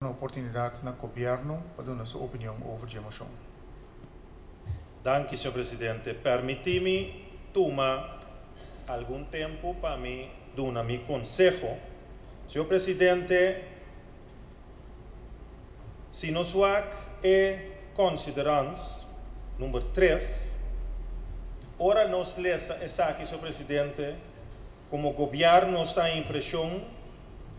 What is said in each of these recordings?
un oportunidad na Gobierno pa duna su opinion over dje moshon. Danki, señor presidente. Permiti mi tuma algun tempu pa mi duna mi conseho. Señor presidente, si nos wak e considerans number tres, ora nos lesa esaki, señor presidente, Komo gobièrnu nos ta den impreshon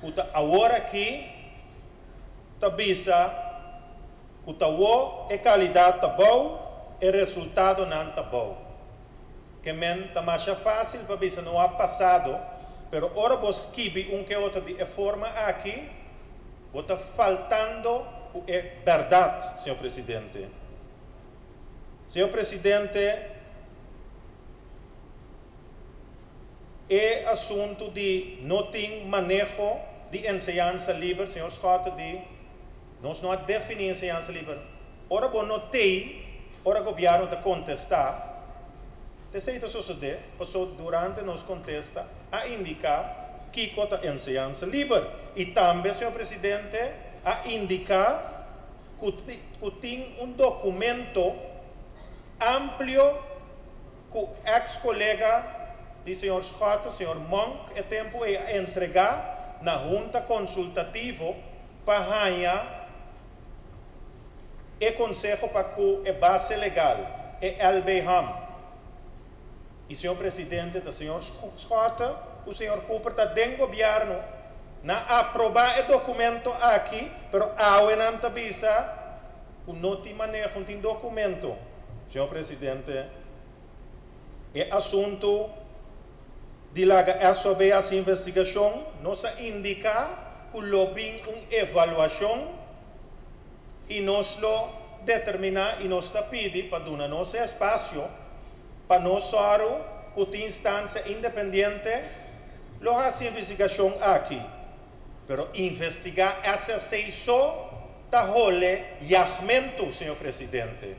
ku ta awor aki ta bisa ku ta wo e kalidat ta bou, e resultadonan ta bou. Ke men ta masha fásil pa bisa no a pasado, pero ora bo skibi un ke otro di e forma aki bo ta faltando ku e bèrdat, señor presidente. Señor presidente, E asuntu di no tin maneho di enseñansa liber, señor Scott ta di, Nos no a defini enseñansa liber. Ora bo no t'ey, ora gobierno ta contesta, p'esey ta sosode, paso durante nos contesta a indica kico ta enseñansa liber y tambe señor Presidente a indica cu tin un documento amplio cu ex colega di señor Schotten, señor Monk, e tempo ey a entrega na Hunta Consultativo pa haya e conseho pa cu e base legal, e LBHAM, y señor Presidente ta señor Schotten cu señor Cooper ta den Gobierno, nan a aproba e documento aki, pero awe nan ta bisa. ku no tin maneho tin dokumento, señor presidente, e asuntu di laga esso bay haci investigacion. Nos a indica cu lo bin un evaluacion y nos lo determina y nos ta pidi pa duna nos e espacio pa nos soru cu tin instancia independiente lo haci investigacion aki. Pero investigá ese asei so ta hole yagmentu, señor presidente.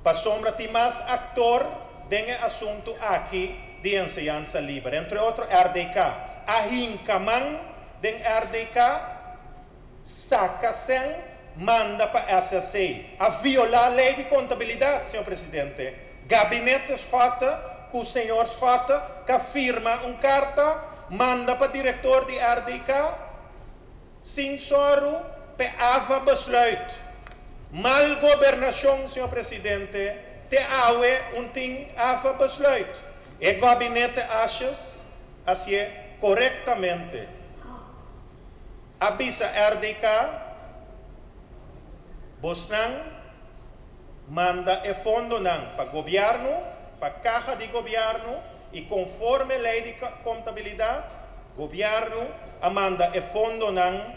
Pasobra tin mas aktor den e asuntu aki di enseñansa liber. Entre otro rdk a hinka man den rdk Saca sen manda pa SSA. A viola ley di contabilidad, señor presidente. Gabinete SJ cu señor SJ ca firma un carta manda pa director di RDK sin soru pe ava besluit. Mal gobernacion, señor presidente, te awe un tin ava besluit. E gabinete aces asie corectamente. A bisa RDK, Bosnan manda e fondonan pa gobièrnu, pa kaha di gobièrnu i konforme lei di kontabilidat, gobièrnu a manda e fondonan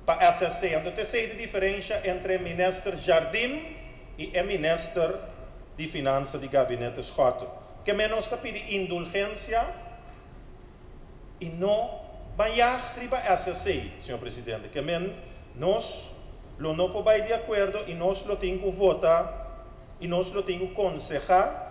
pa SSC. Anto ta esei di diferensha entre Minister Jardim i e Minister di Finansa di Gabinete Schotten. Ke men nos ta pidi indulgensia. y no bayaj riba ese asey, Señor Presidente, ke men nos lo no por bay di acuerdo y nos lo tin cu vota y nos lo tin cu conseha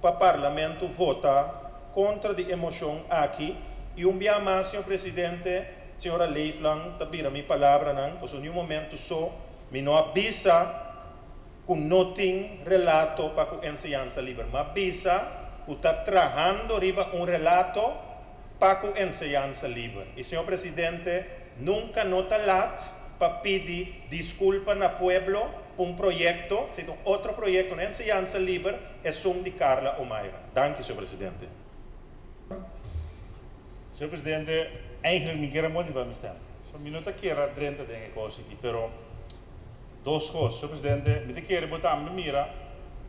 pa Parlamento vota contra di e mocion aki y un bia mas, Señor Presidente, Señora Leeflang ta bira mi palabranan, pasobra ni un momento so mi no a bisa. ku no tin relato pa ku enseñansa liber, ma bisa ku ta trahando riba un relato pa ku enseñansa liber. I señor presidente, nunka no ta lat pa pidi diskulpa na pueblo pa un proyekto, si ta un otro proyekto na enseñansa liber esun di Carla Omaira. Danki señor presidente. Señor presidente, eigenlijk mi kier a motiva mi stem. So mi no ta kier a drenta den e kos aki, pero. Dos cos, Señor Presidente, mi ta kere bo tambe mira,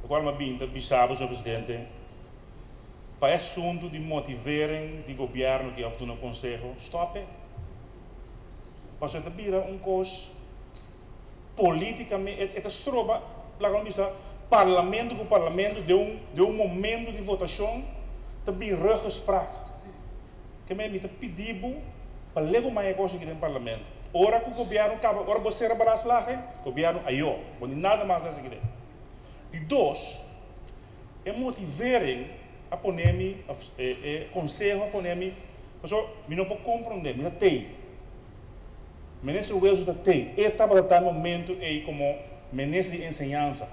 locual mi a bini ta bisa bo, Señor Presidente, pa e asuntu di motivering di Gobierno cu of duna conseho, stope, pasobra e ta bira un cos politicame, e ta stroba, laga mi bisa, Parlamento cu Parlamento den un, den un momento di votacion ta bin ruggespraak. Keme mi ta pidi bo pa lego mai e kos aki den parlamento. Ora ku gobièrnu kaba, ora bo sera balas laga e gobièrnu ayo. Bo ni nada mas den esaki den. Di dos, e motivering a pone mi, òf e konseho a pone mi pasobra mi no por komprondé. Mi ta tei. Minister Wilson ta tei. E tabata ta e momentu ei komo Minister di Enseñansa.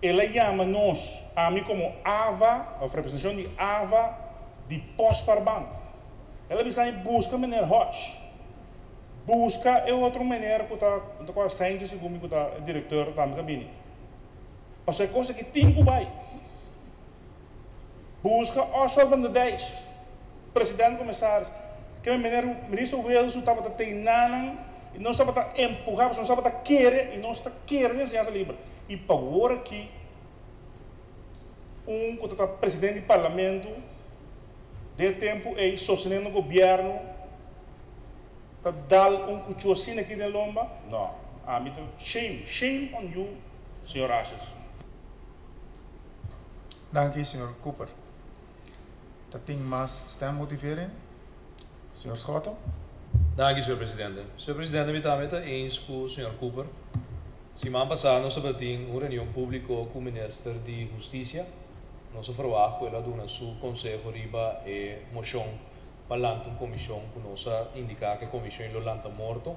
El a yama nos, ami komo Ava, òf representashon di Ava, di pòs par bank. El a bisa mi, Buska Meneer Hodge. Buska e otro meneer ku ta, no ta akorda Saintje segun mi ku ta e direktor tambe ku a bini. Pasobra e kos aki tin ku bai. Buska Oswald van der Dijs, president comisaris, ke mi meneer minister Wales su tabata tei nanan y nos tabata empuha pasobra nos tabata kere y nos ta kere den enseñansa liber y pa wor aki un ku tata president di parlamento den e tempo ey sostenendo gobierno ta dal un kuchu asina aki den lomba no ami ta shame shame on you señor Ashis. Danki señor Cooper. Ta tin mas stemmotivering, señor Schotten? Danki, señor presidente. Señor presidente, mi tambe ta eens cu señor Cooper. Siman pasá nos tabatin un reunion público cu minister di Husticia. Nos a verwag cu el a duna su conseho riba e mocion pa lanta un comision cu nos a indica cu e comision lo lanta morto,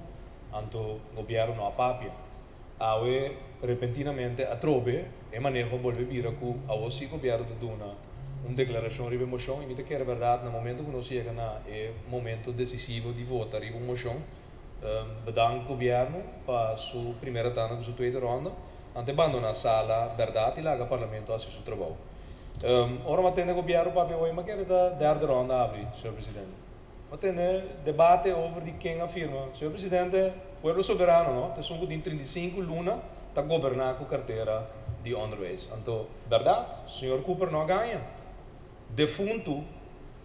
anto gobierno no a papia. Awe repentinamente atrobe e maneho a bolbe bira cu awo si Gobierno ta duna un declaracion riba e mocion y mi ta kere berdad na momento cu nos yega na e momento decisivo di vota riba un mocion bedank Gobierno pa su primera tanda cu su tweede ronda ante bandona sala berdad y laga Parlamento haci su trabao. Ora mi a tende Gobierno papia hoy mi a kere ta derde ronda abri, Señor Presidente. Bo tene debate over di ken a firma. Señor Presidente, pueblo soberano no ta esun cu den trinta i sinku luna ta goberna cu cartera di onderwijs. Anto, berdad, señor Cooper no a gaña. Defuntu,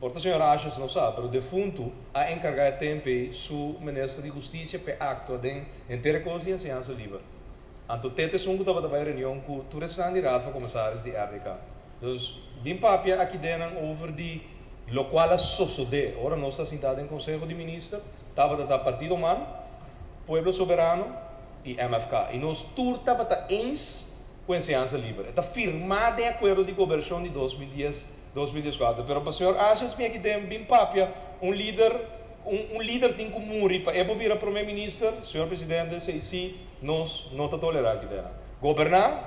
por ta señor Ashes no sa, pero defuntu a encarga e tempo ey su Minister di Husticia p'e actua den henter e cos di enseñansa liber. Anto tèt esun ku tabata bai reunion ku tur esnan di Raad van Komisaris di rdk. Dus bin papia aki den nan over di lokual a sosodé ora nos ta sintá den Konseho di Minister, tabata ta Partido Man, Pueblo Soberano i MFK. I nos tur tabata eens ku enseñansa liber. E ta firmá den Akuerdo di Gobershon di dos mil dies. Dos mil dies kuater, pero pa señor Ashens mi aki den bin papia un lider, un un lider tin ku muri pa e por bira prome minister, señor presidente si asi nos no ta tolera aki den nan. Goberna,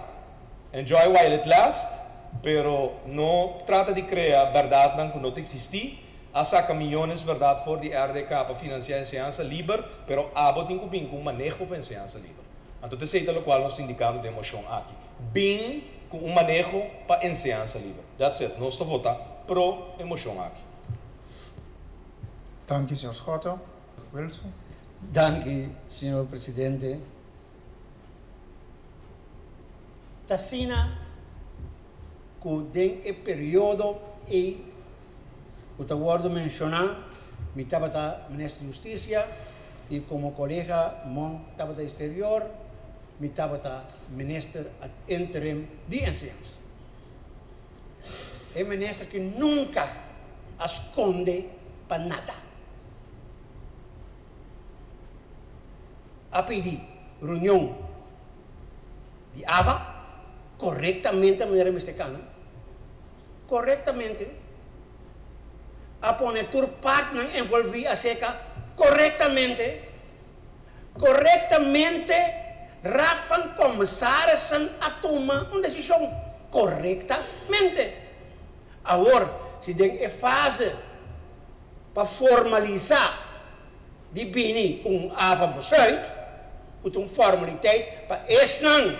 enjoy while it last, pero no trata di krea berdadnan ku no ta eksistí, a saka miyones berdad for di rdk pa finansia enseñansa liber, pero abo tin ku bin ku un maneho pa enseñansa liber. Anto ta esei ta lokual nos ta indikando den moshon aki. Bin ku un maneho pa enseñansa liber. That's it. Nos ta votá pro e moshon aki. Danki, señor Schotten. Wilson. Danki, señor presidente. T'asina ku den e periodo ei. Ku ta wòrdu menshoná, mi tabata Minister di Hustisia i komo kolega Mong tabata di Sterior, mi tabata Minister ad interim di Enseñansa. E minister ku nunka a skonde pa nada. A pidi reunion di ava korektamente manera mester kana. korektamente, a pone tur partnan envolví aserka korektamente, korektamente, Raad van Commissarissen a tuma un desishon korektamente. Awor, si den e fase pa formalisá di bini ku un ava-besluit, ku ta un formaliteit pa esnan.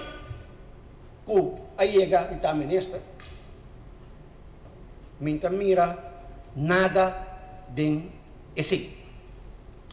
Ku a yega di ta minister mi ta mira nada den esei.